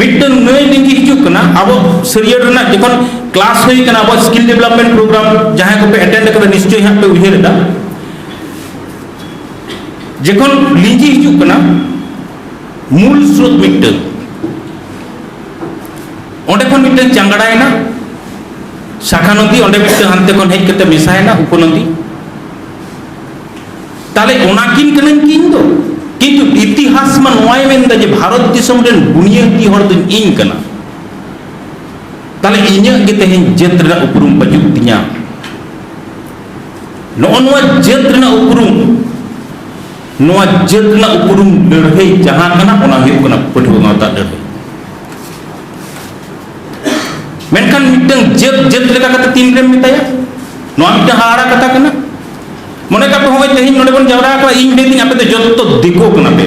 ᱢᱤᱫᱴᱟᱝ ᱱᱟᱹᱭ ᱞᱤᱸᱜᱤ ᱦᱤᱡᱩᱜ ᱠᱟᱱᱟ ᱟᱵᱚ ᱥᱟᱹᱨᱭᱟᱹᱲ ᱨᱮᱱᱟᱜ ᱡᱚᱠᱷᱚᱱ ᱠᱞᱟᱥ ᱦᱩᱭ ᱠᱟᱱᱟ ᱟᱵᱚ ᱥᱠᱤᱞ ᱰᱮᱵᱷᱞᱚᱯᱢᱮᱱᱴ ᱯᱨᱳᱜᱨᱟᱢ ᱡᱟᱦᱟᱸᱭ ᱠᱚᱯᱮ ᱮᱴᱮᱱᱰ ᱠᱟᱫᱟ ᱱᱤᱥᱪᱚᱭ ᱦᱟᱸᱜ ᱯᱮ ᱩᱭᱦᱟᱹᱨ ᱮᱫᱟ ᱡᱚᱠᱷᱚᱱ ᱞᱤᱸᱜᱤ ᱦᱤᱡᱩᱜ ᱠᱟᱱᱟ ᱢᱩᱞ ᱥᱨᱳᱛ ᱢᱤᱫᱴᱟᱝ ᱚᱸᱰᱮ ᱠᱷᱚᱱ ᱢᱤᱫᱴᱟᱝ ᱪᱟᱝᱜᱲᱟᱭᱮᱱᱟ ᱥᱟᱠᱷᱟ ᱱᱚᱫᱤ ᱚᱸᱰᱮ ᱢᱤᱫᱴᱟᱝ ᱦᱟᱱᱛᱮ ᱠᱷᱚᱱ ᱦᱮᱡ ᱠᱟᱛᱮ ᱢᱮᱥᱟᱭᱮᱱᱟ ᱩᱯᱚᱱᱚᱫᱤ ᱛᱟᱦᱞᱮ ᱚᱱᱟ ᱠᱤᱱ ᱠᱟᱹᱱᱟᱹᱧ ᱠᱤ ᱤᱧ ᱫᱚ? ᱠᱤᱱᱛᱩ ᱤᱛᱤᱦᱟᱥ ᱢᱟ ᱱᱚᱣᱟᱭ ᱢᱮᱱ ᱮᱫᱟ ᱡᱮ ᱵᱷᱟᱨᱚᱛ ᱫᱤᱥᱚᱢ ᱨᱮᱱ ᱵᱩᱱᱤᱭᱟᱹᱫᱤ ᱦᱚᱲ ᱫᱚ ᱤᱧ ᱠᱟᱱᱟ᱾ ᱛᱟᱦᱞᱮ ᱤᱧᱟᱹᱜ ᱜᱮ ᱛᱮᱦᱮᱧ ᱡᱟᱹᱛ ᱨᱮᱱᱟᱜ ᱩᱯᱨᱩᱢ ᱵᱟᱹᱪᱩᱜ ᱛᱤᱧᱟ᱾ ᱱᱚᱜᱼᱚ ᱱᱚᱣᱟ ᱡᱟᱹᱛ ᱨᱮᱱᱟᱜ ᱩᱯᱨᱩᱢ ᱱᱚᱣᱟ ᱡᱟᱹᱛ ᱨᱮᱱᱟᱜ ᱩᱯᱨᱩᱢ ᱞᱟᱹᱲᱦᱟᱹᱭ ᱡᱟᱦᱟᱸ ᱠᱟᱱᱟ ᱚᱱᱟ ᱦᱩᱭᱩᱜ ᱠᱟᱱᱟ ᱯᱟᱹᱴᱷᱩᱣᱟᱹ ᱜᱟᱶᱛᱟ ᱞᱟᱹᱲᱦᱟᱹᱭ᱾ ᱢᱮᱱᱠᱷᱟᱱ ᱢᱤᱫᱴᱟᱝ ᱡᱟᱹᱛ ᱡᱟᱹᱛ ᱞᱮᱠᱟ ᱠᱟᱛᱮ ᱛᱤᱱ ᱨᱮᱢ ᱢᱮᱛᱟᱭᱟ? ᱱᱚᱣᱟ ᱢᱤᱫᱴᱟᱝ ᱦᱟᱦᱟᱲᱟ ᱠᱟᱛᱷᱟ ᱠᱟᱱᱟ᱾ ᱢᱚᱱᱮ ᱠᱟᱜ ᱯᱮ ᱦᱚᱸᱜᱼᱚᱭ ᱛᱮᱦᱮᱧ ᱱᱚᱰᱮ ᱵᱚᱱ ᱡᱟᱣᱨᱟ ᱟᱠᱟᱱᱟ ᱤᱧ ᱢᱮᱱ ᱫᱤᱧ ᱟᱯᱮ ᱫᱚ ᱡᱚᱛᱚ ᱫᱤᱠᱩ ᱠᱟᱱᱟ ᱯᱮ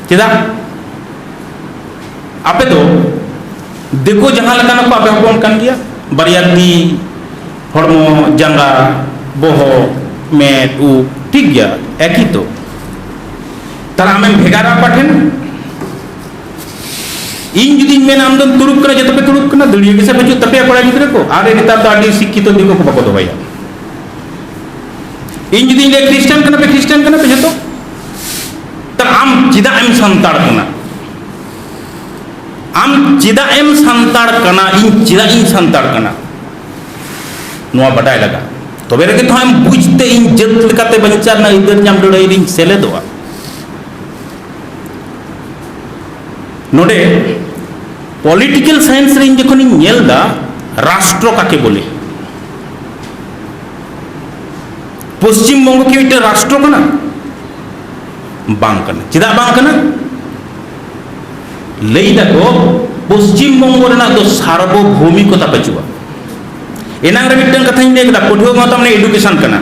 ᱪᱮᱫᱟᱜ ᱟᱯᱮ ᱫᱚ ᱫᱤᱠᱩ ᱡᱟᱦᱟᱸ ᱞᱮᱠᱟᱱ ᱠᱚ ᱟᱯᱮ ᱦᱚᱯᱚᱱ ᱠᱟᱱ ᱜᱮᱭᱟ ᱵᱟᱨᱭᱟ ᱛᱤ ᱦᱚᱲᱢᱚ ᱡᱟᱸᱜᱟ ᱵᱚᱦᱚᱜ ᱢᱮᱫ ᱩᱵ ᱴᱷᱤᱠ ᱜᱮᱭᱟ ᱮᱠᱤ ᱛᱚ ᱛᱟᱦᱞᱮ ᱟᱢᱮᱢ ᱵᱷᱮᱜᱟᱨᱟ ᱚᱠᱟ ᱴᱷᱮᱱ ᱤᱧ ᱡᱩᱫᱤᱧ ᱢᱮᱱᱟ ᱟᱢ ᱫᱚᱢ ᱛᱩᱲᱩᱠ ᱠᱟᱱᱟ ᱡᱚᱛᱚ ᱯᱮ ᱛᱩᱲᱩᱠ ᱠᱟᱱᱟ ᱫᱟᱹᱲᱤᱭᱟᱹ ᱜᱮᱥᱮ ᱵᱟᱹᱪᱩᱜ ᱛᱟᱯᱮᱭᱟ ᱠᱚᱲᱟ ᱜᱤᱫᱽᱨᱟᱹ ᱠᱚ ᱟᱨ ᱱᱮᱛᱟᱨ ᱫᱚ ᱟᱹᱰᱤ ᱥᱤᱠᱠᱷᱤᱛᱚ ᱫᱤᱠᱩ ᱠᱚ ᱵᱟᱠᱚ ᱫᱚᱦᱚᱭᱟ ᱤᱧ ᱡᱩᱫᱤᱧ ᱞᱟᱹᱭ ᱠᱷᱨᱤᱥᱴᱟᱱ ᱠᱟᱱᱟ ᱯᱮ ᱠᱷᱨᱤᱥᱴᱟᱱ ᱠᱟᱱᱟ ᱯᱮ ᱡᱚᱛᱚ ᱛᱚ ᱟᱢ ᱪᱮᱫᱟᱜ ᱮᱢ ᱥᱟᱱᱛᱟᱲ ᱠᱟᱱᱟ ᱟᱢ ᱪᱮᱫᱟᱜ ᱮᱢ ᱥᱟᱱᱛᱟᱲ ᱠᱟᱱᱟ ᱤᱧ ᱪᱮᱫᱟᱜ ᱤᱧ ᱥᱟᱱᱛᱟᱲ ᱠᱟᱱᱟ ᱱᱚᱣᱟ ᱵᱟᱰᱟᱭ ᱞᱟᱜᱟᱜᱼᱟ ᱛᱚᱵᱮ ᱨᱮᱜᱮ ᱛᱚ ᱟᱢ ᱵᱩᱡᱽᱛᱮ ᱤᱧ ᱡᱟᱹᱛ ᱞᱮᱠᱟᱛᱮ ᱵᱟᱧᱪᱟᱣ ᱨᱮᱱᱟᱜ ᱟᱹᱭᱫᱟᱹᱨ ᱧᱟᱢ ᱞᱟᱹᱲᱦᱟᱹᱭ ᱨᱤᱧ ᱥᱮᱞᱮᱫᱚᱜᱼᱟ ᱱᱚᱰᱮ ᱯᱚᱞᱤᱴᱤᱠᱮᱞ ᱥᱟᱭᱮᱱᱥ ᱨᱮ ᱤᱧ ᱡᱚᱠᱷᱚᱱᱤᱧ ᱧᱮᱞ ᱮᱫᱟ ᱨᱟᱥᱴᱨᱚ ᱠᱟᱠᱮ ᱵᱚᱞᱮ ᱯᱚᱥᱪᱤᱢᱵᱚᱝᱜᱚ ᱠᱤ ᱢᱤᱫᱴᱮᱱ ᱨᱟᱥᱴᱨᱚ ᱠᱟᱱᱟ ᱵᱟᱝ ᱠᱟᱱᱟ ᱪᱮᱫᱟᱜ ᱵᱟᱝ ᱠᱟᱱᱟ ᱞᱟᱹᱭ ᱫᱟᱠᱚ ᱯᱚᱥᱪᱤᱢᱵᱚᱝᱜᱚ ᱨᱮᱱᱟᱜ ᱫᱚ ᱥᱟᱨᱵᱚᱵᱷৌমিকᱚᱛᱟ ᱵᱟᱹᱪᱩᱜᱼᱟ ᱮᱱᱟᱝ ᱨᱮ ᱢᱤᱫᱴᱟᱝ ᱠᱟᱛᱷᱟᱧ ᱞᱟᱹᱭ ᱠᱮᱫᱟ ᱯᱟᱹᱴᱷᱩᱣᱟᱹ ᱜᱟᱶᱛᱟ ᱢᱟᱱᱮ ᱮᱰᱩᱠᱮᱥᱚᱱ ᱠᱟᱱᱟ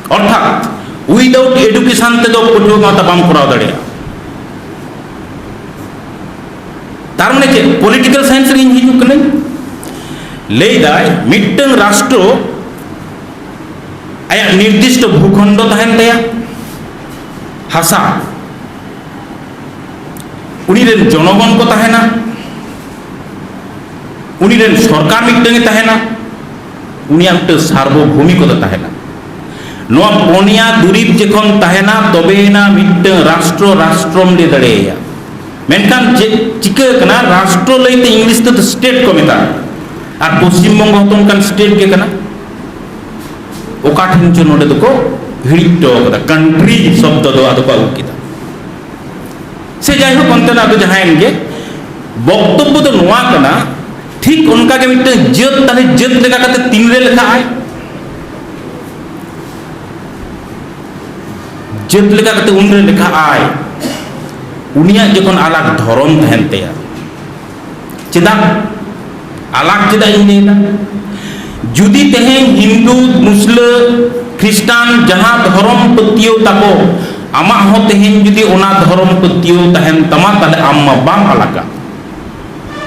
ᱚᱨᱛᱷᱟᱛ ᱩᱭᱫᱟᱣᱩᱴ ᱮᱰᱩᱠᱮᱥᱚᱱ ᱛᱮᱫᱚ ᱯᱟᱹᱴᱷᱩᱣᱟᱹ ᱜᱟᱶᱛᱟ ᱵᱟᱢ ᱠᱚᱨᱟᱣ ᱫᱟᱲᱮᱭᱟᱜᱼᱟ ᱛᱟᱨ ᱢᱟᱱᱮ ᱪᱮᱫ ᱯᱚᱞᱤᱴᱤᱠᱟᱞ ᱥᱟᱭᱮᱱᱥ ᱨᱮ ᱤᱧ ᱦᱤᱡᱩᱜ ᱠᱟᱹᱱᱟᱹᱧ ᱞᱟᱹᱭᱫᱟᱭ ᱢᱤᱫᱴᱟᱝ ᱨᱟᱥᱴᱨᱚ ᱟᱭᱟᱜ ᱱᱤᱨᱫᱤᱥᱴᱚ ᱵᱷᱩᱠᱷᱚᱸᱰᱚ ᱛᱟᱦᱮᱱ ᱛᱟᱭᱟ ᱦᱟᱥᱟ ᱩᱱᱤ ᱨᱮᱱ ᱡᱚᱱᱚᱜᱚᱱ ᱠᱚ ᱛᱟᱦᱮᱱᱟ ᱩᱱᱤ ᱨᱮᱱ ᱥᱚᱨᱠᱟᱨ ᱢᱤᱫᱴᱟᱝ ᱮ ᱛᱟᱦᱮᱱᱟ ᱩᱱᱤᱭᱟᱜ ᱢᱤᱫᱴᱟᱝ ᱥᱟᱨᱵᱚᱵᱷᱩᱢᱤ ᱠᱚᱫᱚ ᱛᱟᱦᱮᱱᱟ ᱱᱚᱣᱟ ᱯᱚᱱᱭᱟ ᱫᱩᱨᱤᱵ ᱡᱚᱠᱷᱚᱱ ᱛᱟᱦᱮᱱᱟ ᱛᱚᱵᱮᱭᱮᱱᱟ ᱢᱤᱫᱴᱟᱝ ᱨᱟᱥᱴᱨᱚ ᱨᱟᱥᱴᱨᱚᱢ ᱞᱟᱹᱭ ᱫᱟᱲᱮᱭᱟᱭᱟ ᱢᱮᱱᱠᱷᱟᱱ ᱪᱮᱫ ᱪᱤᱠᱟᱹ ᱠᱟᱱᱟ ᱨᱟᱥᱴᱨᱚ ᱞᱟᱹᱭᱛᱮ ᱤᱝᱞᱤᱥ ᱛᱮᱫᱚ ᱥᱴᱮᱴ ᱠᱚ ᱢᱮᱛᱟᱜᱼᱟ ᱟᱨ ᱯᱚᱥᱪᱤᱢ ᱵᱚᱝᱜᱚ ᱦᱚᱸᱛᱚ ᱚᱱᱠᱟᱱ ᱥᱴᱮᱴ ᱜᱮ ᱠᱟᱱᱟ ᱚᱠᱟ ᱴᱷᱮᱱ ᱪᱚ ᱱᱚᱰᱮ ᱫᱚᱠᱚ ᱦᱤᱲᱤᱡ ᱦᱚᱴᱚ ᱠᱟᱫᱟ ᱠᱟᱱᱴᱨᱤ ᱥᱚᱵᱫᱚ ᱫᱚ ᱟᱫᱚ ᱠᱚ ᱟᱹᱜᱩ ᱠᱮᱫᱟ ᱥᱮ ᱡᱟᱭᱦᱳᱠ ᱚᱱᱛᱮᱱᱟᱜ ᱫᱚ ᱡᱟᱦᱟᱸᱭᱮᱱ ᱜᱮ ᱵᱚᱠᱛᱚᱵᱽᱵᱚ ᱫᱚ ᱱᱚᱣᱟ ᱠᱟᱱᱟ ᱴᱷᱤᱠ ᱚᱱᱠᱟ ᱜᱮ ᱢᱤᱫᱴᱟᱝ ᱡᱟᱹᱛ ᱛᱟᱦᱞᱮ ᱡᱟᱹᱛ ᱞᱮᱠᱟ ᱠᱟᱛᱮ ᱛᱤᱱᱨᱮ ᱞᱮᱠᱷᱟᱜᱼᱟᱭ ᱡᱟᱹᱛ ᱞᱮᱠᱟ ᱠᱟᱛᱮ ᱩᱱ ᱨᱮ ᱞᱮᱠᱷᱟ ᱟᱭ ᱩᱱᱤᱭᱟᱜ ᱡᱚᱠᱷᱚᱱ ᱟᱞᱟᱜ ᱫᱷᱚᱨᱚᱢ ᱛᱟᱦᱮᱱ ᱛᱟᱭᱟ ᱪᱮᱫᱟᱜ ᱟᱞᱟᱜ ᱪᱮᱫᱟᱜ ᱤᱧ ᱞᱟᱹᱭᱫᱟ ᱡᱩᱫᱤ ᱛᱮᱦᱮᱧ ᱦᱤᱱᱫᱩ ᱢᱩᱥᱞᱟᱹ ᱠᱷᱨᱤᱥᱴᱟᱱ ᱡᱟᱦᱟᱸ ᱫᱷᱚᱨᱚᱢ ᱯᱟᱹᱛᱭᱟᱹᱣ ᱛᱟᱠᱚ ᱟᱢᱟᱜ ᱦᱚᱸ ᱛᱮᱦᱮᱧ ᱡᱩᱫᱤ ᱚᱱᱟ ᱫᱷᱚᱨᱚᱢ ᱯᱟᱹᱛᱭᱟᱹᱣ ᱛᱟᱦᱮᱱ ᱛᱟᱢᱟ ᱛᱟᱦᱞᱮ ᱟᱢ ᱢᱟ ᱵᱟᱢ ᱟᱞᱟᱜᱟ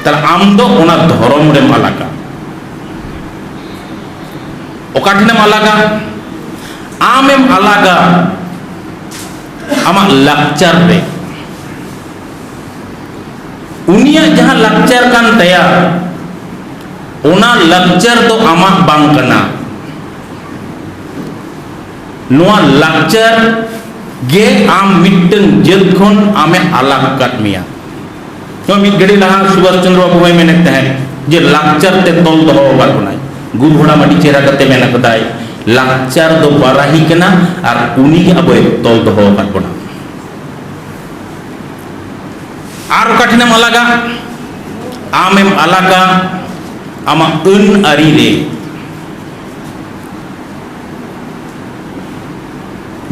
ᱛᱟᱦᱞᱮ ᱟᱢ ᱫᱚ ᱚᱱᱟ ᱫᱷᱚᱨᱚᱢ ᱨᱮᱢ ᱟᱞᱟᱜᱟ ᱚᱠᱟ ᱴᱷᱮᱱᱮᱢ ᱟᱞᱟᱜᱟ ᱟᱢᱮᱢ ᱟᱞᱟᱜᱟ ᱟᱢᱟᱜ ᱞᱟᱠᱪᱟᱨ ᱨᱮ ᱩᱱᱤᱭᱟᱜ ᱡᱟᱦᱟᱸ ᱞᱟᱠᱪᱟᱨ ᱠᱟᱱ ᱛᱟᱭᱟ ᱚᱱᱟ ᱞᱟᱠᱪᱟᱨ ᱫᱚ ᱟᱢᱟᱜ ᱵᱟᱝ ᱠᱟᱱᱟ ᱱᱚᱣᱟ ᱞᱟᱠᱪᱟᱨ ᱜᱮ ᱟᱢ ᱢᱤᱫᱴᱟᱝ ᱡᱟᱹᱛ ᱠᱷᱚᱱ ᱟᱢᱮ ᱟᱞᱟᱜ ᱟᱠᱟᱫ ᱢᱮᱭᱟ ᱱᱚᱣᱟ ᱢᱤᱫ ᱜᱷᱟᱹᱲᱤ ᱞᱟᱦᱟ ᱥᱩᱵᱷᱟᱥ ᱪᱚᱱᱫᱨᱚ ᱵᱟᱵᱩ ᱦᱚᱸᱭ ᱢᱮᱱᱮᱫ ᱛᱟᱦᱮᱸᱫ ᱡᱮ ᱞᱟᱠᱪᱟᱨ ᱛᱮ ᱛᱚᱞ ᱫᱚᱦᱚ ᱟᱠᱟᱫ ᱵᱚᱱᱟᱭ ᱜᱩᱨᱩ ᱦᱟᱲᱟᱢ ᱟᱹᱰᱤ ᱪᱮᱦᱨᱟ ᱠᱟᱛᱮ ᱢᱮᱱ ᱟᱠᱟᱫᱟᱭ ᱞᱟᱠᱪᱟᱨ ᱫᱚ ᱵᱟᱨᱟᱦᱤ ᱠᱟᱱᱟ ᱟᱨ ᱩᱱᱤ ᱜᱮ ᱟᱵᱚᱭ ᱛᱚᱞ ᱫᱚᱦᱚ ᱟᱠᱟᱫ ᱵᱚᱱᱟ ᱟᱨ ᱚᱠᱟ ᱴᱷᱮᱱᱮᱢ ᱟᱞᱟᱜᱟ ᱟᱢᱮᱢ ᱟᱞᱟᱜᱟ ᱟᱢᱟᱜ ᱟᱹᱱ ᱟᱹᱨᱤ ᱨᱮ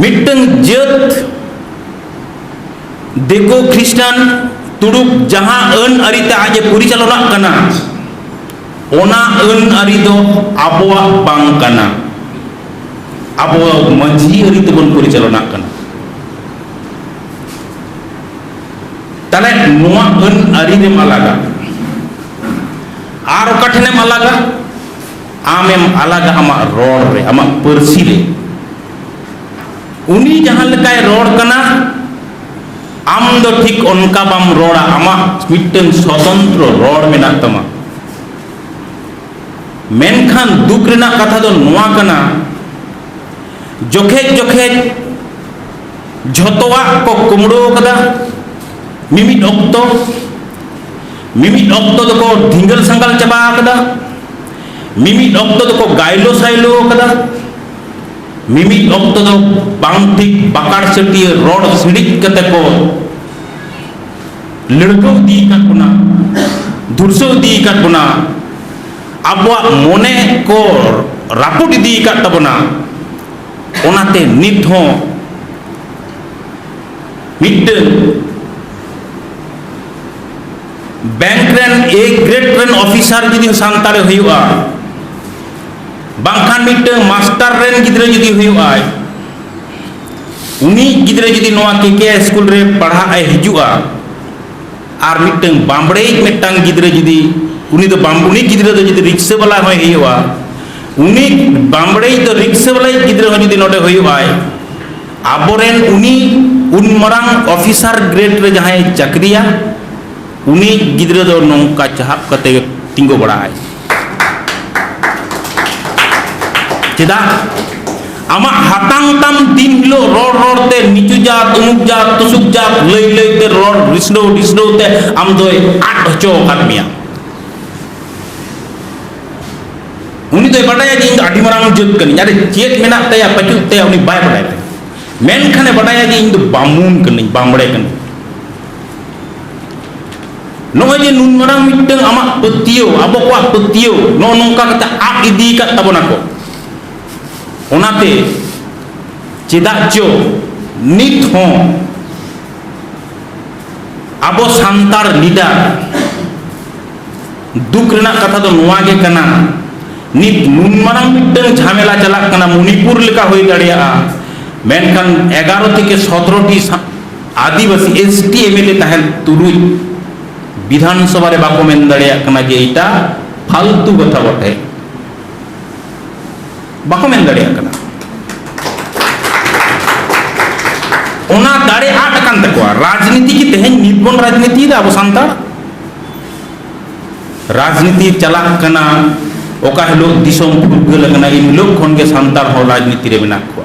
ᱢᱤᱫᱴᱟᱝ ᱡᱟᱹᱛ ᱫᱤᱠᱩ ᱠᱷᱨᱤᱥᱴᱟᱱ ᱛᱩᱲᱩᱠ ᱡᱟᱦᱟᱸ ᱟᱹᱱ ᱟᱹᱨᱤ ᱛᱮ ᱟᱡ ᱮ ᱯᱚᱨᱤᱪᱟᱞᱚᱱᱟᱜ ᱠᱟᱱᱟ ᱚᱱᱟ ᱟᱹᱱ ᱟᱹᱨᱤ ᱫᱚ ᱟᱵᱚᱣᱟᱜ ᱵᱟᱝ ᱠᱟᱱᱟ ᱟᱵᱚ ᱢᱟᱹᱡᱷᱤ ᱟᱹᱨᱤ ᱛᱮᱵᱚᱱ ᱯᱚᱨᱤᱪᱟᱞᱚᱱᱟᱜ ᱠᱟᱱᱟ ᱛᱟᱦᱞᱮ ᱱᱚᱣᱟ ᱟᱹᱱ ᱟᱹᱨᱤ ᱨᱮᱢ ᱟᱞᱟᱜᱟ ᱟᱨ ᱚᱠᱟ ᱴᱷᱮᱱᱮᱢ ᱟᱞᱟᱜᱟ ᱟᱢᱮᱢ ᱟᱞᱟᱜᱟ ᱟᱢᱟᱜ ᱨᱚᱲ ᱨᱮ ᱟᱢᱟᱜ ᱯᱟᱹᱨᱥᱤ ᱨᱮ ᱩᱱᱤ ᱡᱟᱦᱟᱸ ᱞᱮᱠᱟᱭ ᱨᱚᱲ ᱠᱟᱱᱟ ᱟᱢ ᱫᱚ ᱴᱷᱤᱠ ᱚᱱᱠᱟ ᱵᱟᱢ ᱨᱚᱲᱟ ᱟᱢᱟᱜ ᱢᱤᱫᱴᱟᱝ ᱥᱚᱛᱚᱱᱛᱨᱚ ᱨᱚᱲ ᱢᱮᱱᱟᱜ ᱛᱟᱢᱟ ᱢᱮᱱᱠᱷᱟᱱ ᱫᱩᱠ ᱨᱮᱱᱟᱜ ᱠᱟᱛᱷᱟ ᱫᱚ ᱱᱚᱣᱟ ᱠᱟᱱᱟ ᱡᱚᱠᱷᱮᱡ ᱡᱚᱠᱷᱮᱡ ᱡᱷᱚᱛᱚᱣᱟᱜ ᱠᱚ ᱠᱩᱢᱲᱳ ᱠᱟᱫᱟ ᱢᱤᱢᱤᱫ ᱚᱠᱛᱚ ᱢᱤᱢᱤᱫ ᱚᱠᱛᱚ ᱫᱚᱠᱚ ᱫᱷᱤᱸᱜᱟᱹᱞ ᱥᱟᱸᱜᱟᱞ ᱪᱟᱵᱟ ᱠᱟᱫᱟ ᱢᱤᱢᱤᱫ ᱚᱠᱛᱚ ᱫᱚᱠᱚ ᱜᱟᱭᱞᱳ ᱥᱟᱭᱞᱳ ᱠᱟᱫᱟ ᱢᱤᱢᱤᱫ ᱚᱠᱛᱚ ᱫᱚ ᱵᱟᱝ ᱴᱷᱤᱠ ᱵᱟᱠᱟᱲ ᱥᱟᱹᱴᱤᱭᱟᱹ ᱨᱚᱲ ᱥᱤᱲᱤᱡ ᱠᱟᱛᱮ ᱠᱚ ᱞᱟᱹᱲᱠᱟᱹᱣ ᱤᱫᱤ ᱟᱠᱟᱫ ᱵᱚᱱᱟ ᱫᱷᱩᱨᱥᱟᱹᱣ ᱤᱫᱤ ᱟᱠᱟᱫ ᱵᱚᱱᱟ ᱟᱵᱚᱣᱟᱜ ᱢᱚᱱᱮ ᱠᱚ ᱨᱟᱹᱯᱩᱫ ᱤᱫᱤ ᱟᱠᱟᱫ ᱛᱟᱵᱚᱱᱟ ᱚᱱᱟᱛᱮ ᱱᱤᱛ ᱦᱚᱸ ᱢᱤᱫᱴᱟᱹᱝ ᱵᱮᱝᱠ ᱨᱮᱱ ᱮ ᱜᱨᱮᱰ ᱨᱮᱱ ᱚᱯᱷᱤᱥᱟᱨ ᱡᱩᱫᱤ ᱥᱟᱱᱛᱟᱲᱮ ᱦᱩᱭᱩᱜᱼᱟ ᱵᱟᱝᱠᱷᱟᱱ ᱢᱤᱫᱴᱟᱝ ᱢᱟᱥᱴᱟᱨ ᱨᱮᱱ ᱜᱤᱫᱽᱨᱟᱹ ᱡᱩᱫᱤ ᱦᱩᱭᱩᱜᱼᱟᱭ ᱩᱱᱤ ᱜᱤᱫᱽᱨᱟᱹ ᱡᱩᱫᱤ ᱱᱚᱣᱟ ᱠᱮᱠᱮ ᱥᱠᱩᱞ ᱨᱮ ᱯᱟᱲᱦᱟᱜ ᱮ ᱦᱤᱡᱩᱜᱼᱟ ᱟᱨ ᱢᱤᱫᱴᱟᱝ ᱵᱟᱢᱵᱲᱮᱭᱤᱡ ᱢᱤᱫᱴᱟᱝ ᱜᱤᱫᱽᱨᱟᱹ ᱡᱩᱫᱤ ᱩᱱᱤ ᱫᱚ ᱵᱟᱢᱵᱩᱱᱤ ᱜᱤᱫᱽᱨᱟᱹ ᱫᱚ ᱡᱩᱫᱤ ᱨᱤᱠᱥᱟᱹ ᱵᱟᱞᱟ ᱦᱚᱸᱭ ᱦᱩᱭᱩᱜᱼᱟ ᱩᱱᱤ ᱵᱟᱢᱵᱲᱮᱭᱤᱡ ᱫᱚ ᱨᱤᱠᱥᱟᱹ ᱵᱟᱞᱟᱭᱤᱡ ᱜᱤᱫᱽᱨᱟᱹ ᱦᱚᱸ ᱡᱩᱫᱤ ᱱᱚᱰᱮ ᱦᱩᱭᱩᱜᱼᱟᱭ ᱟᱵᱚᱨᱮᱱ ᱩᱱᱤ ᱩᱱ ᱢᱟᱨᱟᱝ ᱚᱯᱷᱤᱥᱟᱨ ᱜᱨᱮᱰ ᱨᱮ ᱡᱟᱦᱟᱸᱭ ᱪᱟᱹᱠᱨᱤᱭᱟ ᱩᱱᱤ ᱜᱤᱫᱽᱨᱟᱹ ᱫᱚ ᱱᱚᱝᱠᱟ ᱪᱟᱦᱟᱵ ᱠᱟᱛᱮ ᱛᱤᱸᱜᱩ ᱵᱟᱲᱟᱜᱼᱟᱭ ᱪᱮᱫᱟᱜ ᱟᱢᱟᱜ ᱦᱟᱛᱟᱝ ᱛᱟᱢ ᱫᱤᱱ ᱦᱤᱞᱳᱜ ᱨᱚᱲ ᱨᱚᱲ ᱛᱮ ᱱᱤᱪᱩ ᱡᱟᱛ ᱩᱢᱩᱠ ᱡᱟᱛ ᱛᱩᱥᱩᱠ ᱡᱟᱛ ᱞᱟᱹᱭ ᱞᱟᱹᱭ ᱛᱮ ᱨᱚᱲ ᱨᱤᱥᱰᱟᱹᱣ ᱨᱤᱥᱰᱟᱹᱣ ᱛᱮ ᱟᱢ ᱫᱚᱭ ᱟᱫ ᱦᱚᱪᱚ ᱟᱠᱟᱫ ᱢᱮᱭᱟ ᱩᱱᱤ ᱫᱚᱭ ᱵᱟᱰᱟᱭᱟ ᱡᱮ ᱤᱧ ᱫᱚ ᱟᱹᱰᱤ ᱢᱟᱨᱟᱝ ᱡᱟᱹᱛ ᱠᱟᱹᱱᱟᱹᱧ ᱟᱨ ᱪᱮᱫ ᱢᱮᱱᱟᱜ ᱛᱟᱭᱟ ᱯᱟᱹᱪᱩᱜ ᱛᱟᱭᱟ ᱩᱱᱤ ᱵᱟᱭ ᱵᱟᱰᱟᱭ ᱛᱟᱭᱟ ᱢᱮᱱᱠᱷᱟᱱᱮ ᱵᱟᱰᱟᱭᱟ ᱡᱮ ᱤᱧ ᱫᱚ ᱵᱟᱢᱩᱱ ᱠᱟᱹᱱᱟᱹᱧ ᱵᱟᱢᱲᱮ ᱠᱟᱹᱱᱟᱹᱧ ᱱᱚᱜᱼᱚᱭ ᱡᱮ ᱱᱩᱱ ᱢᱟᱨᱟᱝ ᱢᱤᱫᱴᱟᱝ ᱟᱢᱟᱜ ᱯᱟᱹᱛᱭᱟᱹᱣ ᱟᱵᱚ ᱠᱚᱣᱟᱜ ᱯᱟᱹᱛᱭᱟᱹᱣ ᱱᱚᱜᱼᱚ ᱱᱚᱝᱠᱟ ᱠᱟᱛᱮ ᱟᱫ ᱤᱫᱤ ᱟᱠᱟᱫ ᱛᱟᱵᱚᱱᱟ ᱠᱚ ᱚᱱᱟᱛᱮ ᱪᱮᱫᱟᱜ ᱪᱚ ᱱᱤᱛ ᱦᱚᱸ ᱟᱵᱚ ᱥᱟᱱᱛᱟᱲ ᱞᱤᱰᱟᱨ ᱫᱩᱠ ᱨᱮᱱᱟᱜ ᱠᱟᱛᱷᱟ ᱫᱚ ᱱᱚᱣᱟ ᱜᱮ ᱠᱟᱱᱟ ᱱᱤᱛ ᱱᱩᱱ ᱢᱟᱨᱟᱝ ᱢᱤᱫᱴᱟᱝ ᱡᱷᱟᱢᱮᱞᱟ ᱪᱟᱞᱟᱜ ᱠᱟᱱᱟ ᱢᱚᱱᱤᱯᱩᱨ ᱞᱮᱠᱟ ᱦᱩᱭ ᱫᱟᱲᱮᱭᱟᱜᱼᱟ ᱢᱮᱱᱠᱷᱟᱱ ᱮᱜᱟᱨᱚ ᱛᱷᱮᱠᱮ ᱥᱚᱛᱨᱚᱴᱤ ᱟᱹᱫᱤᱵᱟᱹᱥᱤ ᱮᱥᱴᱤ ᱮᱢᱮᱞᱮ ᱛᱟᱦᱮᱱ ᱛᱩᱞᱩᱡ ᱵᱤᱫᱷᱟᱱᱥᱚᱵᱷᱟ ᱨᱮ ᱵᱟᱠᱚ ᱢᱮᱱ ᱫᱟᱲᱮᱭᱟᱜ ᱠᱟᱱᱟ ᱡᱮ ᱮᱴᱟ ᱯᱷᱟᱞᱛᱩ ᱠᱟᱛᱷᱟ ᱵᱚᱴᱷᱮ ᱵᱟᱠᱚ ᱢᱮᱱ ᱫᱟᱲᱮᱭᱟᱜ ᱠᱟᱱᱟ ᱚᱱᱟ ᱫᱟᱲᱮ ᱟᱫ ᱟᱠᱟᱱ ᱛᱟᱠᱚᱣᱟ ᱨᱟᱡᱽᱱᱤᱛᱤ ᱠᱤ ᱛᱮᱦᱮᱧ ᱱᱤᱛ ᱵᱚᱱ ᱨᱟᱡᱽᱱᱤᱛᱤᱭᱮᱫᱟ ᱟᱵᱚ ᱥᱟᱱᱛᱟᱲ ᱨᱟᱡᱽᱱᱤᱛᱤ ᱪᱟᱞᱟᱜ ᱠᱟᱱᱟ ᱚᱠᱟ ᱦᱤᱞᱳᱜ ᱫᱤᱥᱚᱢ ᱯᱷᱩᱨᱜᱟᱹᱞ ᱟᱠᱟᱱᱟ ᱮᱱ ᱦᱤᱞᱳᱜ ᱠᱷᱚᱱ ᱜᱮ ᱥᱟᱱᱛᱟᱲ ᱦᱚᱸ ᱨᱟᱡᱽᱱᱤᱛᱤ ᱨᱮ ᱢᱮᱱᱟᱜ ᱠᱚᱣᱟ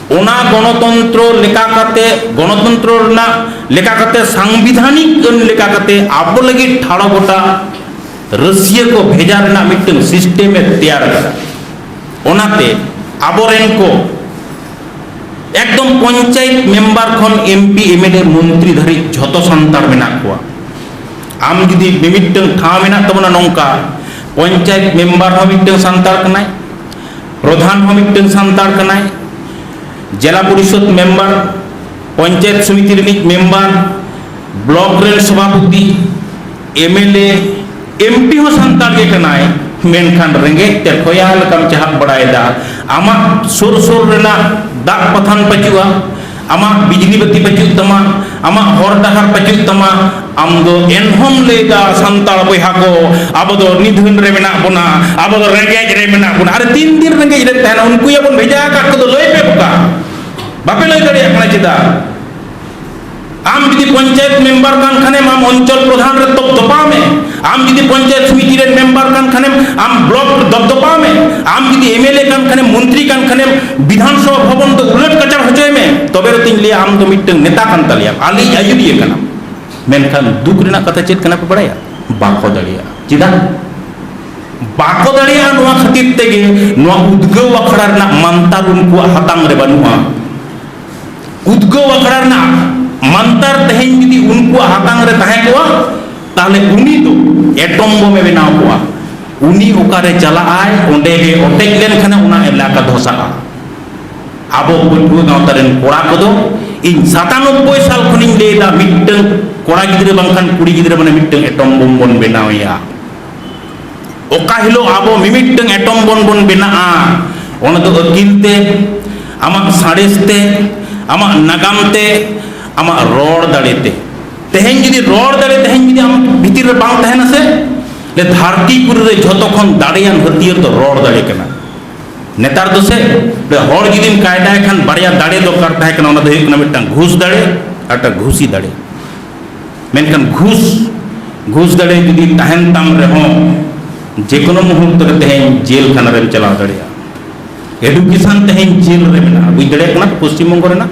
ᱚᱱᱟ ᱜᱚᱱᱚᱛᱚᱱᱛᱨᱚ ᱞᱮᱠᱟ ᱠᱟᱛᱮ ᱜᱚᱱᱚᱛᱚᱱᱛᱨᱚ ᱨᱮᱱᱟᱜ ᱞᱮᱠᱟ ᱠᱟᱛᱮ ᱥᱟᱝᱵᱤᱫᱷᱟᱱᱤᱠ ᱟᱹᱱ ᱞᱮᱠᱟ ᱠᱟᱛᱮ ᱟᱵᱚ ᱞᱟᱹᱜᱤᱫ ᱴᱷᱟᱲᱚ ᱜᱚᱴᱟ ᱨᱟᱹᱥᱤᱭᱟᱹ ᱠᱚ ᱵᱷᱮᱡᱟ ᱨᱮᱱᱟᱜ ᱢᱤᱫᱴᱟᱝ ᱥᱤᱥᱴᱮᱢ ᱮ ᱛᱮᱭᱟᱨ ᱠᱮᱫᱟ ᱚᱱᱟᱛᱮ ᱟᱵᱚᱨᱮᱱ ᱠᱚ ᱮᱠᱫᱚᱢ ᱯᱚᱧᱪᱟᱭᱮᱛ ᱢᱮᱢᱵᱟᱨ ᱠᱷᱚᱱ ᱮᱢᱯᱤ ᱮᱢᱮᱞᱮ ᱢᱚᱱᱛᱨᱤ ᱫᱷᱟᱹᱨᱤᱡ ᱡᱷᱚᱛᱚ ᱥᱟᱱᱛᱟᱲ ᱢᱮᱱᱟᱜ ᱠᱚᱣᱟ ᱟᱢ ᱡᱩᱫᱤ ᱢᱤᱢᱤᱫᱴᱟᱝ ᱴᱷᱟᱶ ᱢᱮᱱᱟᱜ ᱛᱟᱵᱚᱱᱟ ᱱᱚᱝᱠᱟ ᱯᱚᱧᱪᱟᱭᱮᱛ ᱢᱮᱢᱵᱟᱨ ᱦᱚᱸ ᱢᱤᱫᱴᱟᱝ ᱥᱟᱱᱛᱟᱲ ᱠᱟᱱᱟᱭ ᱯᱨᱚᱫᱷᱟᱱ ᱦᱚᱸ ᱢᱤᱫᱴᱟᱝ ᱥᱟᱱᱛᱟᱲ ᱠᱟᱱᱟᱭ ᱡᱮᱞᱟ ᱯᱚᱨᱤᱥᱚᱫ ᱢᱮᱢᱵᱟᱨ ᱯᱚᱧᱪᱟᱭᱮᱛ ᱥᱚᱢᱤᱛᱤ ᱨᱤᱱᱤᱡ ᱢᱮᱢᱵᱟᱨ ᱵᱞᱚᱠ ᱨᱮᱱ ᱥᱚᱵᱷᱟᱯᱚᱛᱤ ᱮᱢᱮᱞᱮ ᱮᱢᱯᱤ ᱦᱚᱸ ᱥᱟᱱᱛᱟᱲ ᱜᱮ ᱠᱟᱱᱟᱭ ᱢᱮᱱᱠᱷᱟᱱ ᱨᱮᱸᱜᱮᱡ ᱛᱮ ᱠᱷᱚᱭᱟ ᱞᱮᱠᱟᱢ ᱪᱟᱦᱟᱵ ᱵᱟᱲᱟᱭᱮᱫᱟ ᱟᱢᱟᱜ ᱥᱩᱨ ᱥᱩᱨ ᱨᱮᱱᱟᱜ ᱫᱟᱜ ᱯᱟᱛᱷᱟᱢ ᱯᱟᱹᱪᱩᱜᱼᱟ ᱟᱢᱟᱜ ᱵᱤᱡᱽᱞᱤ ᱵᱟᱹᱛᱤ ᱵᱟᱹᱪᱩᱜ ᱛᱟᱢᱟ ᱟᱢᱟᱜ ᱦᱚᱨ ᱰᱟᱦᱟᱨ ᱵᱟᱹᱪᱩᱜ ᱛᱟᱢᱟ ᱟᱢ ᱫᱚ ᱮᱱᱦᱚᱢ ᱞᱟᱹᱭᱫᱟ ᱥᱟᱱᱛᱟᱲ ᱵᱚᱭᱦᱟ ᱠᱚ ᱟᱵᱚ ᱫᱚ ᱱᱤᱫᱷᱟᱹᱱ ᱨᱮ ᱢᱮᱱᱟᱜ ᱵᱚᱱᱟ ᱟᱵᱚ ᱫᱚ ᱨᱮᱸᱜᱮᱡ ᱨᱮ ᱢᱮᱱᱟᱜ ᱵᱚᱱᱟ ᱟᱨ ᱛᱤᱱ ᱫᱤᱱ ᱨᱮᱸᱜᱮᱡ ᱨᱮ ᱛᱟᱦᱮᱱᱟ ᱩᱱᱠᱩ ᱭᱟᱵᱚᱱ ᱵᱷᱮᱡᱟ ᱟᱠᱟᱫ ᱠᱚᱫᱚ ᱞᱟᱹᱭ ᱯᱮ ᱵᱚᱠᱟ ᱵᱟᱯᱮ ᱞᱟᱹᱭ ᱫᱟᱲᱮᱭᱟᱜ ᱠᱟᱱᱟ ᱪᱮᱫᱟᱜ ᱟᱢ ᱡᱩᱫᱤ ᱯᱚᱧᱪᱟᱭᱮᱛ ᱢᱮᱢᱵᱟᱨ ᱠᱟᱱ ᱠᱷᱟᱱᱮᱢ ᱟᱢ ᱚᱧᱪᱚᱞ ᱯᱨᱚᱫᱷᱟᱱ ᱨᱮ ᱛᱚᱯ ᱛᱚᱯᱟᱣ ᱢᱮ ᱟᱢ ᱡᱩᱫᱤ ᱯᱚᱧᱪᱟᱭᱮᱛ ᱥᱚᱢᱤᱛᱤ ᱨᱮᱱ ᱢᱮᱢᱵᱟᱨ ᱠᱟᱱ ᱠᱷᱟᱱᱮᱢ ᱟᱢ ᱵᱞᱚᱠ ᱫᱚᱯᱫᱚᱯᱟᱣ ᱢᱮ ᱟᱢ ᱡᱩᱫᱤ ᱮᱢᱮᱞᱮ ᱠᱟᱱ ᱠᱷᱟᱱᱮᱢ ᱢᱚᱱᱛᱨᱤ ᱠᱟᱱ ᱠᱷᱟᱱᱮᱢ ᱵᱤᱫᱷᱟᱱ ᱥᱚᱵᱷᱟ ᱵᱷᱚᱵᱚᱱ ᱫᱚ ᱩᱞᱟᱹᱴ ᱠᱟᱪᱟᱲ ᱦᱚᱪᱚᱭ ᱢᱮ ᱛᱚᱵᱮ ᱨᱮᱛᱤᱧ ᱞᱟᱹᱭᱟ ᱟᱢ ᱫᱚ ᱢᱤᱫᱴᱟᱝ ᱱᱮᱛᱟ ᱠᱟᱱ ᱛᱟᱞᱮᱭᱟ ᱟᱞᱮᱭᱤᱡ ᱟᱹᱭᱩᱨᱤᱭᱟᱹ ᱠᱟᱱᱟᱢ ᱢᱮᱱᱠᱷᱟᱱ ᱫᱩᱠ ᱨᱮᱱᱟᱜ ᱠᱟᱛᱷᱟ ᱪᱮᱫ ᱠᱟᱱᱟ ᱯᱮ ᱵᱟᱲᱟᱭᱟ ᱵᱟᱠᱚ ᱫᱟᱲᱮᱭᱟᱜᱼᱟ ᱪᱮᱫᱟᱜ ᱵᱟᱠᱚ ᱫᱟᱲᱮᱭᱟᱜᱼᱟ ᱱᱚᱣᱟ ᱠᱷᱟᱹᱛᱤᱨ ᱛᱮᱜᱮ ᱱᱚᱣᱟ ᱩᱫᱽᱜᱟᱹᱣ ᱟᱠᱷᱲᱟ ᱨᱮᱱᱟᱜ ᱢᱟᱱᱛᱟᱨ ᱩᱱᱠᱩᱣᱟᱜ ᱦᱟᱛᱟᱝ ᱨᱮ ᱵᱟᱹᱱᱩᱜᱼᱟ ᱩᱫᱽᱜᱟᱹᱣ ᱟᱠᱷᱲᱟ ᱨᱮᱱᱟᱜ ᱢᱟᱱᱛᱟᱨ ᱛᱮᱦᱮᱧ ᱡᱩᱫᱤ ᱩᱱᱠᱩᱣᱟᱜ ᱦᱟᱛᱟᱝ ᱨᱮ ᱛᱟᱦᱮᱸ ᱠᱚᱜᱼᱟ ᱛᱟᱦᱞᱮ ᱩᱱᱤ ᱫᱚ ᱮᱴᱚᱢ ᱵᱚᱢ ᱮ ᱵᱮᱱᱟᱣ ᱠᱚᱣᱟ ᱩᱱᱤ ᱚᱠᱟᱨᱮ ᱪᱟᱞᱟᱜ ᱟᱭ ᱚᱸᱰᱮ ᱜᱮ ᱚᱴᱮᱡ ᱞᱮᱱᱠᱷᱟᱱ ᱚᱱᱟ ᱮᱞᱟᱠᱟ ᱫᱷᱚᱥᱟᱜᱼᱟ ᱟᱵᱚ ᱯᱟᱹᱴᱷᱩᱣᱟᱹ ᱜᱟᱶᱛᱟ ᱨᱮᱱ ᱠᱚᱲᱟ ᱠᱚᱫᱚ ᱤᱧ ᱥᱟᱛᱟᱱᱚᱵᱵᱳᱭ ᱥᱟᱞ ᱠᱷᱚᱱᱤᱧ ᱞᱟᱹᱭᱫᱟ ᱢᱤᱫᱴᱟᱝ ᱠᱚᱲᱟ ᱜᱤᱫᱽᱨᱟᱹ ᱵᱟᱝᱠᱷᱟᱱ ᱠᱩᱲᱤ ᱜᱤᱫᱽᱨᱟᱹ ᱢᱟᱱᱮ ᱢᱤᱫᱴᱟᱝ ᱮᱴᱚᱢ ᱵᱚᱢ ᱵᱚᱱ ᱵᱮᱱᱟᱣᱮᱭᱟ ᱚᱠᱟ ᱦᱤᱞᱳᱜ ᱟᱵᱚ ᱢᱤᱢᱤᱫᱴᱟᱝ ᱮᱴᱚᱢ ᱵᱚᱢ ᱵᱚᱱ ᱵᱮᱱᱟᱜᱼᱟ ᱚᱱᱟ ᱫᱚ ᱟᱹᱠᱤᱞ ᱛᱮ ᱟᱢᱟᱜ ᱥᱟᱬᱮᱥ ᱛᱮ ᱟᱢᱟᱜ ᱱᱟᱜᱟᱢ ᱛᱮ ᱟᱢᱟᱜ ᱨᱚᱲ ᱫᱟᱲᱮᱛᱮ ᱛᱮᱦᱮᱧ ᱡᱩᱫᱤ ᱨᱚᱲ ᱫᱟᱲᱮ ᱛᱮᱦᱮᱧ ᱡᱩᱫᱤ ᱟᱢ ᱵᱷᱤᱛᱤᱨ ᱨᱮ ᱵᱟᱝ ᱛᱟᱦᱮᱱᱟ ᱥᱮ ᱞᱮ ᱫᱷᱟᱹᱨᱛᱤ ᱯᱩᱨᱤ ᱨᱮ ᱡᱷᱚᱛᱚ ᱠᱷᱚᱱ ᱫᱟᱲᱮᱭᱟᱱ ᱦᱟᱹᱛᱭᱟᱹᱨ ᱫᱚ ᱨᱚᱲ ᱫᱟᱲᱮ ᱠᱟᱱᱟ ᱱᱮᱛᱟᱨ ᱫᱚ ᱥᱮ ᱦᱚᱲ ᱡᱩᱫᱤᱢ ᱠᱟᱭᱫᱟᱭ ᱠᱷᱟᱱ ᱵᱟᱨᱭᱟ ᱫᱟᱲᱮ ᱫᱚᱨᱠᱟᱨ ᱛᱟᱦᱮᱸ ᱠᱟᱱᱟ ᱚᱱᱟ ᱫᱚ ᱦᱩᱭᱩᱜ ᱠᱟᱱᱟ ᱢᱤᱫᱴᱟᱝ ᱜᱷᱩᱥ ᱫᱟᱲᱮ ᱟᱨ ᱢᱤᱫᱴᱟᱝ ᱜᱷᱩᱥᱤ ᱫᱟᱲᱮ ᱢᱮᱱᱠᱷᱟᱱ ᱜᱷᱩᱥ ᱜᱷᱩᱥ ᱫᱟᱲᱮ ᱡᱩᱫᱤ ᱛᱟᱦᱮᱱ ᱛᱟᱢ ᱨᱮᱦᱚᱸ ᱡᱮ ᱠᱳᱱᱳ ᱢᱩᱦᱩᱨᱛ ᱨᱮ ᱛᱮᱦᱮᱧ ᱡᱮᱞ ᱠᱷᱟᱱᱟ ᱨᱮᱢ ᱪᱟᱞᱟᱣ ᱫᱟᱲᱮᱭᱟᱜᱼᱟ ᱮᱰᱩᱠᱮᱥᱚᱱ ᱛᱮᱦᱮᱧ ᱡᱮᱞ ᱨᱮ ᱢᱮᱱᱟᱜᱼᱟ ᱵᱩᱡᱽ ᱫᱟᱲᱮᱭᱟᱜ ᱠᱟᱱᱟ ᱯᱚᱥᱪᱤᱢ ᱵᱚᱝᱜᱚ ᱨᱮᱱᱟᱜ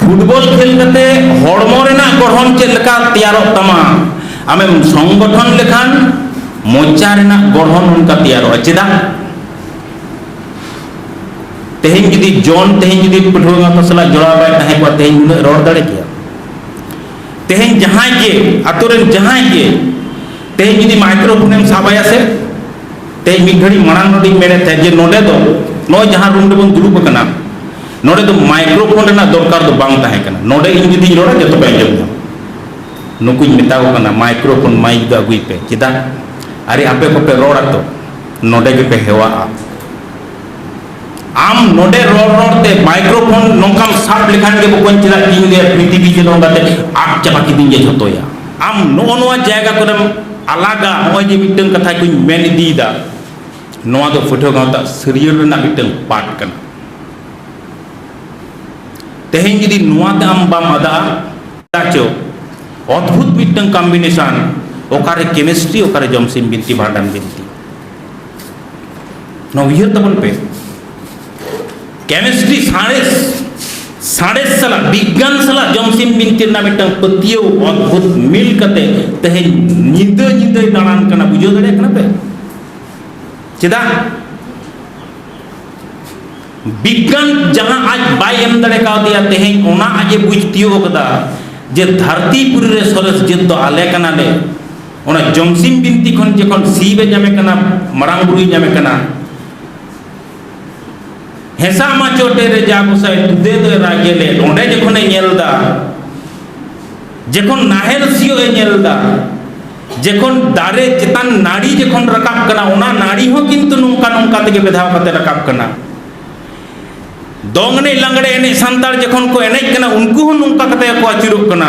ᱯᱷᱩᱴᱵᱚᱞ ᱠᱷᱮᱞ ᱠᱟᱛᱮ ᱦᱚᱲᱢᱚ ᱨᱮᱱᱟᱜ ᱜᱚᱲᱦᱚᱱ ᱪᱮᱫ ᱞᱮᱠᱟ ᱛᱮᱭᱟᱨᱚᱜ ᱛᱟᱢᱟ ᱟᱢᱮᱢ ᱥᱚᱝᱜᱚᱴᱷᱚᱱ ᱞᱮᱠᱷᱟᱱ ᱢᱚᱪᱟ ᱨᱮᱱᱟᱜ ᱜᱚᱲᱦᱚᱱ ᱚᱱᱠᱟ ᱛᱮᱭᱟᱨᱚᱜᱼᱟ ᱪᱮᱫᱟᱜ ᱛᱮᱦᱮᱧ ᱡᱩᱫᱤ ᱡᱚᱱ ᱛᱮᱦᱮᱧ ᱡᱩᱫᱤ ᱯᱟᱹᱴᱷᱩᱣᱟᱹ ᱜᱟᱶᱛᱟ ᱥᱟᱞᱟᱜ ᱡᱚᱲᱟᱣ ᱵᱟᱭ ᱛᱟᱦᱮᱸ ᱠᱚᱜᱼᱟ ᱛᱮᱦᱮᱧ ᱩᱱᱟᱹᱜ ᱨᱚᱲ ᱫᱟᱲᱮ ᱠᱮᱭᱟ ᱛᱮᱦᱮᱧ ᱡᱟᱦᱟᱸᱭ ᱜᱮ ᱟᱛᱳ ᱨᱮᱱ ᱡᱟᱦᱟᱸᱭ ᱜᱮ ᱛᱮᱦᱮᱧ ᱡᱩᱫᱤ ᱢᱟᱭᱠᱨᱳ ᱯᱷᱳᱱᱮᱢ ᱥᱟᱵᱟᱭᱟ ᱥᱮ ᱛᱮ ᱢᱤᱫ ᱜᱷᱟᱹᱲᱤ ᱢᱟᱲᱟᱝ ᱱᱚᱰᱮᱧ ᱢᱮᱱᱮᱫ ᱛᱟᱦᱮᱸ ᱡᱮ ᱱᱚᱰᱮ ᱫᱚ ᱱᱚᱜᱼᱚᱭ ᱡᱟᱦᱟᱸ ᱨᱩᱢ ᱨᱮᱵᱚᱱ ᱫᱩᱲᱩᱵ ᱟᱠᱟᱱᱟ ᱱᱚᱰᱮ ᱫᱚ ᱢᱟᱭᱠᱨᱳᱯᱷᱳᱱ ᱨᱮᱱᱟᱜ ᱫᱚᱨᱠᱟᱨ ᱫᱚ ᱵᱟᱝ ᱛᱟᱦᱮᱸ ᱠᱟᱱᱟ ᱱᱚᱰᱮ ᱤᱧ ᱡᱩᱫᱤᱧ ᱨᱚᱲᱟ ᱡᱚᱛᱚ ᱯᱮ ᱟᱸᱡᱚᱢ ᱧᱟᱢᱟ ᱱᱩᱠᱩᱧ ᱢᱮᱛᱟ ᱠᱚ ᱠᱟᱱᱟ ᱢᱟᱭᱠᱨᱳᱯᱷᱳᱱ ᱢᱟᱭᱤᱠ ᱫᱚ ᱟᱹᱜᱩᱭ ᱯᱮ ᱪᱮᱫᱟᱜ ᱟᱨᱮ ᱟᱯᱮ ᱠᱚᱯᱮ ᱨᱚᱲᱟ ᱛᱚ ᱱᱚᱰᱮ ᱜᱮᱯᱮ ᱦᱮᱣᱟᱜᱼᱟ ᱟᱢ ᱱᱚᱰᱮ ᱨᱚᱲ ᱨᱚᱲ ᱛᱮ ᱢᱟᱭᱠᱨᱳᱯᱷᱳᱱ ᱱᱚᱝᱠᱟᱢ ᱥᱟᱵ ᱞᱮᱠᱷᱟᱱ ᱜᱮ ᱵᱚᱠᱚᱧ ᱪᱮᱫᱟᱜ ᱤᱧ ᱞᱟᱹᱭᱟ ᱯᱨᱤᱛᱷᱤᱵᱤ ᱡᱮ ᱱᱚᱝᱠᱟ ᱛᱮ ᱟᱫ ᱪᱟᱵᱟ ᱠᱤᱫᱤᱧ ᱜᱮ ᱡᱷᱚᱛᱚᱭᱟ ᱟᱢ ᱱᱚᱜᱼᱚ ᱱᱚᱣᱟ ᱡᱟᱭᱜᱟ ᱠᱚᱨᱮᱢ ᱟᱞᱟᱜᱟ ᱱᱚᱜᱼᱚᱭ ᱡᱮ ᱢᱤᱫᱴᱟᱝ ᱠᱟᱛᱷᱟ ᱠᱚᱧ ᱢᱮᱱ ᱤᱫᱤᱭᱮᱫᱟ ᱱᱚᱣᱟ ᱫᱚ ᱯᱟᱹᱴᱷᱩᱣᱟᱹ ᱜᱟᱶᱛᱟ ᱥᱟᱹᱨᱭᱟᱹᱲ ᱨᱮᱱᱟᱜ ᱢᱤᱫᱴᱟᱝ ᱯᱟᱴ ᱠᱟᱱᱟ ᱛᱮᱦᱮᱧ ᱡᱩᱫᱤ ᱱᱚᱣᱟ ᱛᱮ ᱟᱢ ᱵᱟᱢ ᱟᱫᱟᱜᱼᱟ ᱪᱚ ᱚᱫᱽᱵᱷᱩᱛ ᱢᱤᱫᱴᱟᱝ ᱠᱚᱢᱵᱤᱱᱮᱥᱚᱱ ᱚᱠᱟᱨᱮ ᱠᱮᱢᱤᱥᱴᱨᱤ ᱚᱠᱟᱨᱮ ᱡᱚᱢᱥᱤᱢ ᱵᱤᱱᱛᱤ ᱵᱷᱟᱸᱰᱟᱱ ᱵᱤᱱᱛᱤ ᱱᱚᱣᱟ ᱩᱭᱦᱟᱹᱨ ᱛᱟᱵᱚᱱ ᱯᱮ ᱠᱮᱢᱤᱥᱴᱨᱤ ᱥᱟᱬᱮᱥ ᱥᱟᱬᱮᱥ ᱥᱟᱞᱟᱜ ᱵᱤᱜᱽᱜᱟᱱ ᱥᱟᱞᱟᱜ ᱡᱚᱢᱥᱤᱢ ᱵᱤᱱᱛᱤ ᱨᱮᱱᱟᱜ ᱢᱤᱫᱴᱟᱝ ᱯᱟᱹᱛᱭᱟᱹᱣ ᱚᱫᱽᱵᱷᱩᱛ ᱢᱤᱞ ᱠᱟᱛᱮ ᱛᱮᱦᱮᱧ ᱧᱤᱫᱟᱹ ᱧᱤᱫᱟᱹᱭ ᱫᱟᱬᱟᱱ ᱠᱟᱱᱟ ᱵᱩᱡᱷᱟᱹᱣ ᱫᱟᱲᱮᱭᱟᱜ ᱠᱟᱱᱟ ᱯᱮ ᱪᱮᱫᱟᱜ ᱵᱤᱜᱽᱜᱟᱱ ᱡᱟᱦᱟᱸ ᱟᱡ ᱵᱟᱭ ᱮᱢ ᱫᱟᱲᱮ ᱠᱟᱣᱫᱮᱭᱟ ᱛᱮᱦᱮᱧ ᱚᱱᱟ ᱟᱡ ᱮ ᱵᱩᱡᱽ ᱛᱤᱭᱳᱜ ᱟᱠᱟᱫᱟ ᱡᱮ ᱫᱷᱟᱹᱨᱛᱤ ᱯᱩᱨᱤ ᱨᱮ ᱥᱚᱨᱮᱥ ᱡᱟᱹᱛ ᱫᱚ ᱟᱞᱮ ᱠᱟᱱᱟᱞᱮ ᱚᱱᱟ ᱡᱚᱢᱥᱤᱢ ᱵᱤᱱᱛᱤ ᱠᱷᱚᱱ ᱡᱚᱠᱷᱚᱱ ᱥᱤᱵᱮ ᱧᱟᱢᱮ ᱠᱟᱱᱟ ᱢᱟᱨᱟᱝ ᱵᱩᱨᱩᱭ ᱧᱟᱢᱮ ᱠᱟᱱᱟ ᱦᱮᱸᱥᱟ ᱢᱟ ᱪᱚᱴᱮ ᱨᱮ ᱡᱟ ᱜᱚᱥᱟᱭ ᱴᱩᱫᱮ ᱫᱚ ᱨᱟᱜᱮ ᱞᱮ ᱚᱸᱰᱮ ᱡᱚᱠᱷᱚᱱᱮ ᱧᱮᱞ ᱫᱟ ᱡᱚᱠᱷᱚᱱ ᱱᱟᱦᱮᱞ ᱥᱤᱭᱳᱜ ᱮ ᱧᱮᱞ ᱫᱟ ᱡᱚᱠᱷᱚᱱ ᱫᱟᱨᱮ ᱪᱮᱛᱟᱱ ᱱᱟᱹᱲᱤ ᱡᱚᱠᱷᱚᱱ ᱨᱟᱠᱟᱵ ᱠᱟᱱᱟ ᱚᱱᱟ ᱱᱟᱹᱲᱤ ᱦᱚᱸ ᱠᱤᱱᱛᱩ ᱱᱚᱝᱠᱟ ᱱᱚᱝᱠᱟ ᱛᱮᱜᱮ ᱵᱮᱫᱷᱟᱣ ᱠᱟᱛᱮ ᱨᱟᱠᱟᱵ ᱠᱟᱱᱟ ᱫᱚᱝ ᱮᱱᱮᱡ ᱞᱟᱜᱽᱲᱮ ᱮᱱᱮᱡ ᱥᱟᱱᱛᱟᱲ ᱡᱚᱠᱷᱚᱱ ᱠᱚ ᱮᱱᱮᱡ ᱠᱟᱱᱟ ᱩᱱᱠᱩ ᱦᱚᱸ ᱱᱚᱝᱠᱟ ᱠᱟᱛᱮ ᱠᱚ ᱟᱹᱪᱩᱨᱚᱜ ᱠᱟᱱᱟ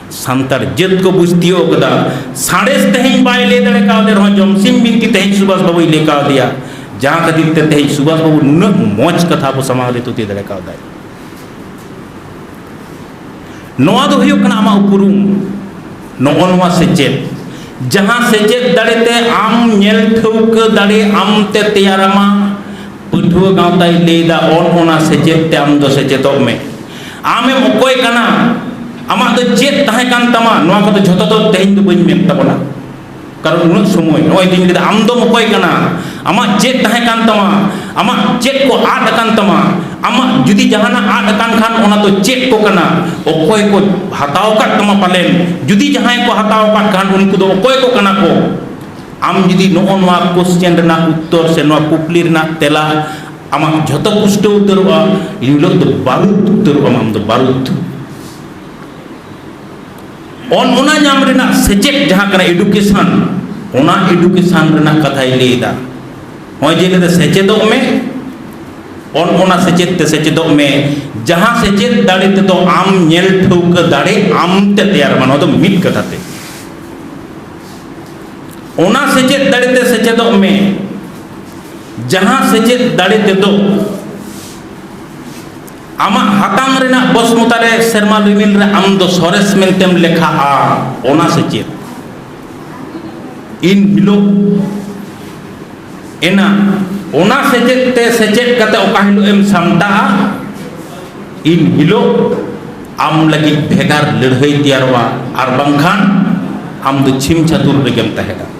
ᱥᱟᱱᱛᱟᱲ ᱡᱟᱹᱛ ᱠᱚ ᱵᱩᱡᱽ ᱛᱤᱭᱳᱜ ᱠᱟᱫᱟ ᱥᱟᱬᱮᱥ ᱛᱮᱦᱮᱧ ᱵᱟᱭ ᱞᱟᱹᱭ ᱫᱟᱲᱮ ᱠᱟᱣᱫᱮ ᱨᱮᱦᱚᱸ ᱡᱚᱢᱥᱤᱢ ᱵᱤᱱᱛᱤ ᱛᱮᱦᱮᱧ ᱥᱩᱵᱷᱟᱥ ᱵᱟᱵᱩᱭ ᱞᱟᱹᱭ ᱠᱟᱣᱫᱮᱭᱟ ᱡᱟᱦᱟᱸ ᱠᱷᱟᱹᱛᱤᱨ ᱛᱮ ᱛᱮᱦᱮᱧ ᱥᱩᱵᱷᱟᱥ ᱵᱟᱵᱩ ᱱᱩᱱᱟᱹᱜ ᱢᱚᱡᱽ ᱠᱟᱛᱷᱟ ᱟᱵᱚ ᱥᱟᱢᱟᱝ ᱨᱮ ᱛᱩᱛᱤ ᱫᱟᱲᱮ ᱠᱟᱣᱫᱟᱭ ᱱᱚᱣᱟ ᱫᱚ ᱦᱩᱭᱩᱜ ᱠᱟᱱᱟ ᱟᱢᱟᱜ ᱩᱯᱨᱩᱢ ᱱᱚᱜᱼᱚ ᱱᱚᱣᱟ ᱥᱮᱪᱮᱫ ᱡᱟᱦᱟᱸ ᱥᱮᱪᱮᱫ ᱫᱟᱲᱮ ᱛᱮ ᱟᱢ ᱧᱮᱞ ᱴᱷᱟᱹᱣᱠᱟᱹ ᱫᱟᱲᱮ ᱟᱢ ᱛᱮ ᱛᱮᱭᱟᱨᱟᱢᱟ ᱯᱟᱹᱴᱷᱩᱣᱟᱹ ᱜᱟᱶᱛᱟᱭ ᱞᱟᱹᱭᱫᱟ ᱚᱱ ᱚᱱᱟ ᱥᱮᱪᱮᱫ ᱛᱮ ᱟᱢ ᱫᱚ ᱥᱮᱪᱮᱫᱚᱜ ᱢᱮ ᱟᱢᱮᱢ ᱚᱠᱚᱭ ᱠᱟᱱᱟ ᱟᱢᱟᱜ ᱫᱚ ᱪᱮᱫ ᱛᱟᱦᱮᱸ ᱠᱟᱱ ᱛᱟᱢᱟ ᱱᱚᱣᱟ ᱠᱚᱫᱚ ᱡᱷᱚᱛᱚ ᱫᱚ ᱛᱮᱦᱮᱧ ᱫᱚ ᱵᱟᱹᱧ ᱢᱮᱱ ᱛᱟᱵᱚᱱᱟ ᱠᱟᱨᱚᱱ ᱩᱱᱟᱹᱜ ᱥᱚᱢᱚᱭ ᱱᱚᱜᱼᱚᱭ ᱫᱤᱱ ᱠᱮᱫᱟ ᱟᱢ ᱫᱚᱢ ᱚᱠᱚᱭ ᱠᱟᱱᱟ ᱟᱢᱟᱜ ᱪᱮᱫ ᱛᱟᱦᱮᱸ ᱠᱟᱱ ᱛᱟᱢᱟ ᱟᱢᱟᱜ ᱪᱮᱫ ᱠᱚ ᱟᱫ ᱟᱠᱟᱱ ᱛᱟᱢᱟ ᱟᱢᱟᱜ ᱡᱩᱫᱤ ᱡᱟᱦᱟᱱᱟᱜ ᱟᱫ ᱟᱠᱟᱱ ᱠᱷᱟᱱ ᱚᱱᱟ ᱫᱚ ᱪᱮᱫ ᱠᱚ ᱠᱟᱱᱟ ᱚᱠᱚᱭ ᱠᱚ ᱦᱟᱛᱟᱣ ᱟᱠᱟᱫ ᱛᱟᱢᱟ ᱯᱟᱞᱮᱱ ᱡᱩᱫᱤ ᱡᱟᱦᱟᱸᱭ ᱠᱚ ᱦᱟᱛᱟᱣ ᱟᱠᱟᱫ ᱠᱷᱟᱱ ᱩᱱᱠᱩ ᱫᱚ ᱚᱠᱚᱭ ᱠᱚ ᱠᱟᱱᱟ ᱠᱚ ᱟᱢ ᱡᱩᱫᱤ ᱱᱚᱜᱼᱚ ᱱᱚᱣᱟ ᱠᱚᱥᱪᱮᱱ ᱨᱮᱱᱟᱜ ᱩᱛᱛᱚᱨ ᱥᱮ ᱱᱚᱣᱟ ᱠᱩᱠᱞᱤ ᱨᱮᱱᱟᱜ ᱛᱮᱞᱟ ᱟᱢᱟᱜ ᱡᱷᱚᱛᱚ ᱯᱩᱥᱴᱟᱹᱣ ᱩᱛᱟᱹᱨᱚᱜᱼᱟ ᱤᱱ ᱦᱤᱞᱳᱜ ᱫᱚ ᱵᱟᱹᱨᱩᱫ ᱩᱛᱟᱹᱨᱚᱜᱼᱟ ᱟᱢ ᱫᱚ ᱵᱟᱹᱨᱩᱫ ᱚᱱ ᱚᱱᱟ ᱧᱟᱢ ᱨᱮᱱᱟᱜ ᱥᱮᱪᱮᱫ ᱡᱟᱦᱟᱸ ᱠᱟᱱᱟ ᱮᱰᱩᱠᱮᱥᱚᱱ ᱚᱱᱟ ᱮᱰᱩᱠᱮᱥᱚᱱ ᱨᱮᱱᱟᱜ ᱠᱟᱛᱷᱟᱭ ᱞᱟᱹᱭᱫᱟ ᱱᱚᱜᱼᱚᱭ ᱡᱮ ᱞᱟᱹᱭᱫᱟ ᱥᱮᱪᱮᱫᱚᱜ ᱢᱮ ᱚᱱ ᱚᱱᱟ ᱥᱮᱪᱮᱫ ᱛᱮ ᱥᱮᱪᱮᱫᱚᱜ ᱢᱮ ᱡᱟᱦᱟᱸ ᱥᱮᱪᱮᱫ ᱫᱟᱲᱮ ᱛᱮᱫᱚ ᱟᱢ ᱧᱮᱞ ᱴᱷᱟᱹᱣᱠᱟᱹ ᱫᱟᱲᱮ ᱟᱢ ᱛᱮ ᱛᱮᱭᱟᱨᱚᱜᱼᱟ ᱱᱚᱣᱟ ᱫᱚ ᱢᱤᱫ ᱠᱟᱛᱷᱟ ᱛᱮ ᱚᱱᱟ ᱥᱮᱪᱮᱫ ᱫᱟᱲᱮ ᱛᱮ ᱥᱮᱪᱮᱫᱚᱜ ᱢᱮ ᱡᱟᱦᱟᱸ ᱥᱮᱪᱮᱫ ᱫᱟᱲᱮ ᱛᱮᱫᱚ ᱟᱢᱟᱜ ᱦᱟᱛᱟᱝ ᱨᱮᱱᱟᱜ ᱵᱚᱥᱢᱚᱛᱟ ᱨᱮ ᱥᱮᱨᱢᱟ ᱨᱤᱢᱤᱞ ᱨᱮ ᱟᱢ ᱫᱚ ᱥᱚᱨᱮᱥ ᱢᱮᱱᱛᱮᱢ ᱞᱮᱠᱷᱟᱜᱼᱟ ᱚᱱᱟ ᱥᱮᱪᱮᱫ ᱤᱱ ᱦᱤᱞᱳᱜ ᱮᱱᱟ ᱚᱱᱟ ᱥᱮᱪᱮᱫ ᱛᱮ ᱥᱮᱪᱮᱫ ᱠᱟᱛᱮ ᱚᱠᱟ ᱦᱤᱞᱳᱜ ᱮᱢ ᱥᱟᱢᱴᱟᱜᱼᱟ ᱤᱱ ᱦᱤᱞᱳᱜ ᱟᱢ ᱞᱟᱹᱜᱤᱫ ᱵᱷᱮᱜᱟᱨ ᱞᱟᱹᱲᱦᱟᱹᱭ ᱛᱮᱭᱟᱨᱚᱜᱼᱟ ᱟᱨ ᱵᱟᱝᱠᱷᱟᱱ ᱟᱢ ᱫᱚ ᱪᱷᱤᱢ ᱪᱷᱟᱹᱛᱩᱨ ᱨᱮᱜᱮᱢ ᱛᱟᱦᱮᱸ ᱫᱟᱲᱮᱭᱟᱜᱼᱟ